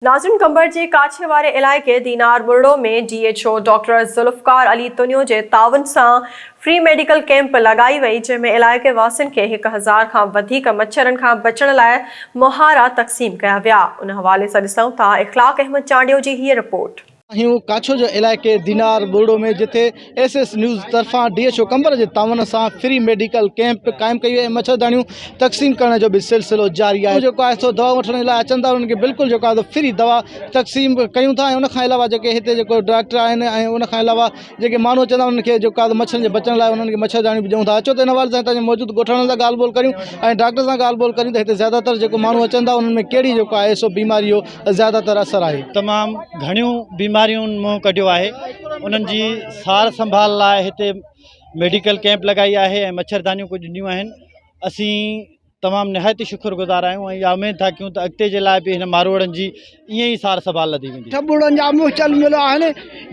ناظرين قمبر جي ڪاڇي واري علائقي Dinar Buriro ۾ D H O doctor Zulfiqar Ali Tunio جي تعاون سان فري ميڊيڪل ڪيمپ لڳائي وئي جنهن ۾ علائقي واسين کي هڪ هزار کان وڌيڪ مڇرن کان بچڻ لاء مهارا تقسيم ڪيا ويا ان حوالي سان ڏسون ٿا اخلاق احمد چانڊيو جي هيء رپورٽ. آهيون ڪاڇو جي علائقي دينار ٻرڙو ۾ جتي ايس ايس نيوز طرفان ڊي ايڇ او قنبر جي تعاون سان فري ميڊيڪل ڪيمپ قائم ڪئي وئي ۽ مڇرداڻيون تقسيم ڪرڻ جو به سلسلو جاري آهي جيڪو آهي سو دوا وٺڻ لاء اچن ٿا انهن کي بلڪل جيڪو آهي سو فري دوا تقسيم ڪيون ٿا ۽ ان کان علاوه جيڪي هتي جيڪو ڊاڪٽر آهن ۽ ان کان علاوه جيڪي ماڻهو اچن ٿا انهن کي جيڪو آهي مڇرن جي بچڻ لاء انهن کي مڇرداڻيون به ڏيون ٿا اچو ته ان حوالي سان هتان جي موجود ڳوٺاڻن سان ڳالهه ٻولهه ڪريون ۽ ڊاڪٽر سان ڳالهه ٻولهه ڪريون ته هتي زياده تر جيڪو ماڻهو اچن ٿا انهن ۾ ڪهڙي جيڪو آهي سو بيماري جو زياده تر اثر آهي تمام گهڻيون بيماريون منهن ڪڍيو آهي انهن جي سار سنڀال لاء هتي ميڊيڪل ڪيمپ لڳائي آهي ۽ مڇردانيون ڪجهه ڏنيون آهن اسين تمام نهايت ئي شڪر گذار آهيون ۽ اها اميد ٿا ڪيون ته اڳتي جي لاء به هن ماروئڙن جي ائين ئي سار سنڀال لڌي ويندي ٽٻوڙن جا مهچل مليا آهن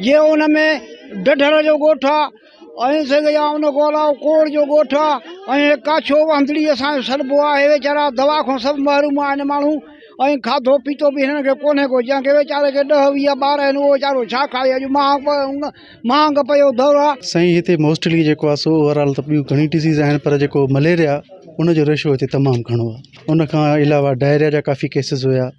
جي ان ۾ ڊڍر جو ڳوٺ آهي ائين سگهي يا ان کان علاوه ڪوڙ جو ڳوٺ آ ۽ هي ڪاڇو وهندڙي اسان جو سڏبو آ هي ويچارا دوا کان سڀ محروم آهن ماڻهو ۽ کاڌو پيتو به هنن کي ڪونهي ڪو جنهن کي ويچاري کي ڏهه ويهه ٻار آهن اهو ويچارو ڇا کائي اڄ مهانگ مهانگ پيو دور آ. سائين هتي موسٽلي جيڪو آ سو اوور آل ته ٻيون گهڻي ڊزيز آهن پر جيڪو مليريا ان جو ريشو هتي تمام گهڻو آ ان کان علاوه ڊائريا جا ڪافي ڪيسز هيا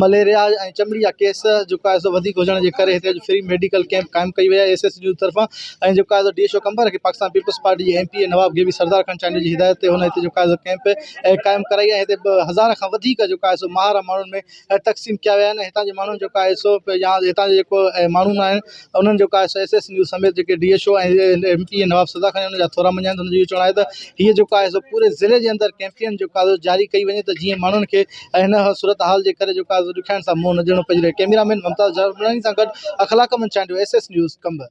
مليريا ۽ چمڙي جا ڪيس جيڪو آهي سو وڌيڪ هجڻ جي ڪري هتي فري ميڊيڪل ڪئمپ قائم ڪئي وئي آهي ايس ايس جي طرفان ۽ جيڪو آهي سو ڊي ايس او قمبر کي پاڪستان پيپلز پارٽي جي ايم پي اي نواب گيوي سردار خان چانڊيو جي هدايت تي هن هتي جيڪو آهي سو ڪئمپ قائم ڪرائي ۽ هتي هزار کان وڌيڪ جيڪو آهي سو مهارا ماڻهن ۾ تقسيم ڪيا ويا آهن هتان جي ماڻهن جيڪو آهي سو يا هتان جي جيڪو ماڻهون آهن انهن جو ڪاش ايس ايس نيوز سميت جيڪي D H O ۽ M P A Nawab سدا خان ان جا ٿورا مڃيا آهن ته انهن جو اهو چوڻ آهي ته هيء جيڪو آهي سو پوري ضلعي جي اندر ڪيمپين جيڪو آهي سو جاري ڪئي وڃي ته جيئن ماڻهن کي هن صورتحال جي ڪري جيڪو آهي سو ڏکيائين سان منهن نه ڏيڻو پئجي رهي ڪئميرا مين ممتاز جاروملاڻي سان گڏ Akhlaq Ahmed Chandio S S News Qambar